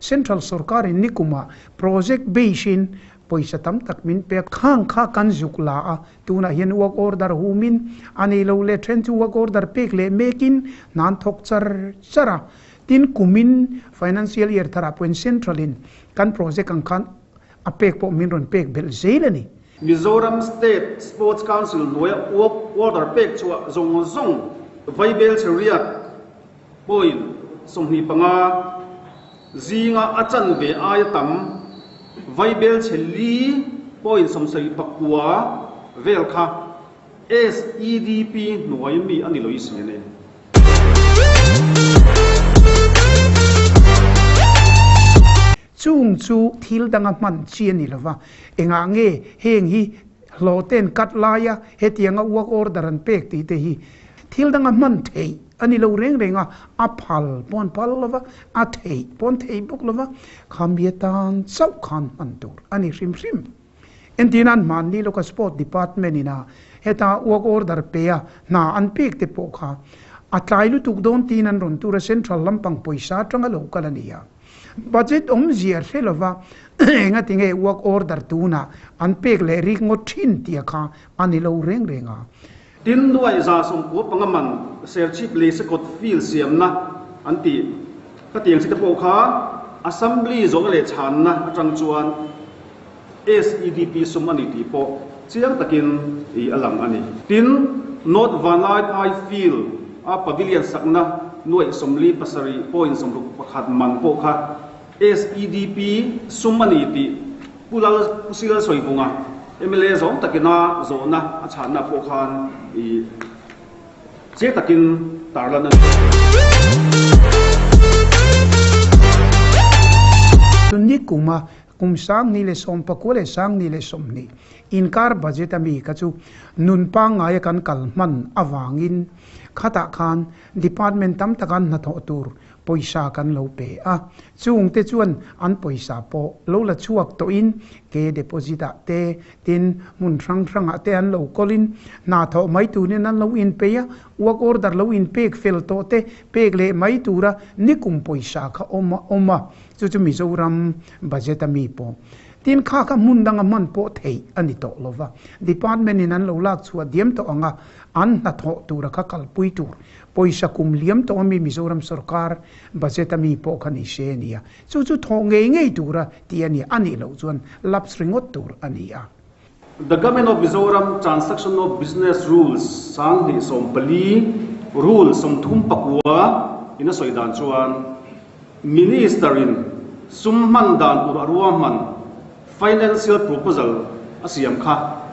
Central sorkarin nikuma project beisin pawisa tam tak min pek khang kha kan zuk la a, tunah hian work order humin a nei lo leh then chu work order pek leh mekin hnan thawk char char a, tin kumin financial year tharah pawhin central in kan project ang khan a pek pawh min rawn pek belh zel a ni. Mizoram State Sports Council hnuaia uap order pek chhuah zawng zawng Vaibel Chheriat pawhin sawhni panga zinga a chan ve aia tam Vaibel Chhelli pawhin sawmsei pakua vel kha SEDP hnuai mi a ni lo isi a ni. Chung chu thil danga hman chi a ni lo va, Engah nge heng hi hlawhte'n cut laia hetianga uak order an pek tih te hi thil danga hman theih a ni lo reng reng a, a phal paw'n phal lova, a theih paw'n theih bawk lova khamhia tan chauh khan hman tur a ni hrim hrim. Entir nan hman ni lawka Sport Department ina heta uak order peia hna an pek te pawh kha a tlai lutuk dawn tiin an rawn tur a, Central lampang pawisa atanga lo kal a ni a. Budget awm ziah hle lo va, enga tinge work order tunah an pek leh rik ngawt thin tia kha a ni lo reng reng a. Tin nuai za sawmpua panga man serchhip lei se kawt fil siamna an ti khatiang si te pawh kha Assembly zawrh leh chhanna atang chuan, SEDP sum a ni tih pawh chiang takin ih a lang a ni. Tin, North Vanlai Phai Field a Pavilion sakna nuaih sawmli pasarih pawh insawmruk pakhat man pawh kha SEDP sum a ni tih Pu Lal Pu Sri Lal Sawivunga mla zawng takina zawhna a chhahna pawh khan ih chiang takin tarlan a ni. Nikum a Kum Sangni leh Sawmpakua leh Sangni leh Sawmhni inkar budget a mi kha chu nun pangngaia kan kal hman avangin khatah khan department tam taka hnathawh tur pawisa kan lo pe a, chung te chuan an pawisa pawh lo la chhuak tawhin ke deposit ah te tin hmun hrang hrangah te an lo kawlin hnathawh mai turin an lo inpei a, work order lo inpek fel tawh te pek leh mai tura nikum pawisa kha awm a awm a, Chu chu Mizoram budget a mi pawh tin kha kha hmun danga hman pawh theih a ni tawh lo va, department in an lo lak chhuah diam tawh ang a, an hna thawh tura kha kalpui tur pawisa kum liam tawh a mi Mizoram sawrkar budget a mi pawh kha ni se a ni a, chu chu thawh ngei ngei tura ti a ni a, a nih loh chuan lapse ringawt tur a ni a. The Government of Mizoram Transaction of Business Rules sang hnih sawm pali Rule sawmthum pakua in a sawi dan chuan Minister in sum hman dan tur a ruahman Financial Proposal a siam kha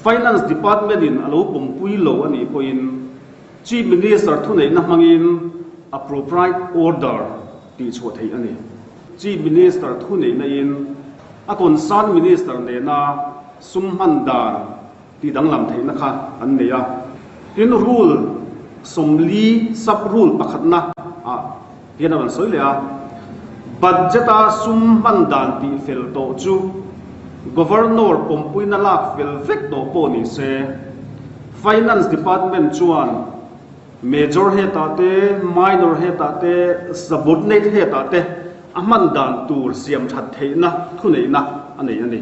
Finance Department in a lo pawmpui lo a nih pawhin Chief Minister thuneihna hmangin Appropriate Order tih chhuah theih a ni. Chief Minister thu neih naihin a concern Minister nena sum hman dan tih danglam theihna kha an nei a, tin rule sawmli, sub rule, pakhatna ah hian a rawn sawi leh a, Budget a sum hman dan tih fel tawh chu Governor pawmpuina lak fel vek tawh pawh nise Finance Department chuan, Major hetah te, Minor hetah te, Subordinate hetah te a hman dan tur siam that theihna thuneihna a nei a ni.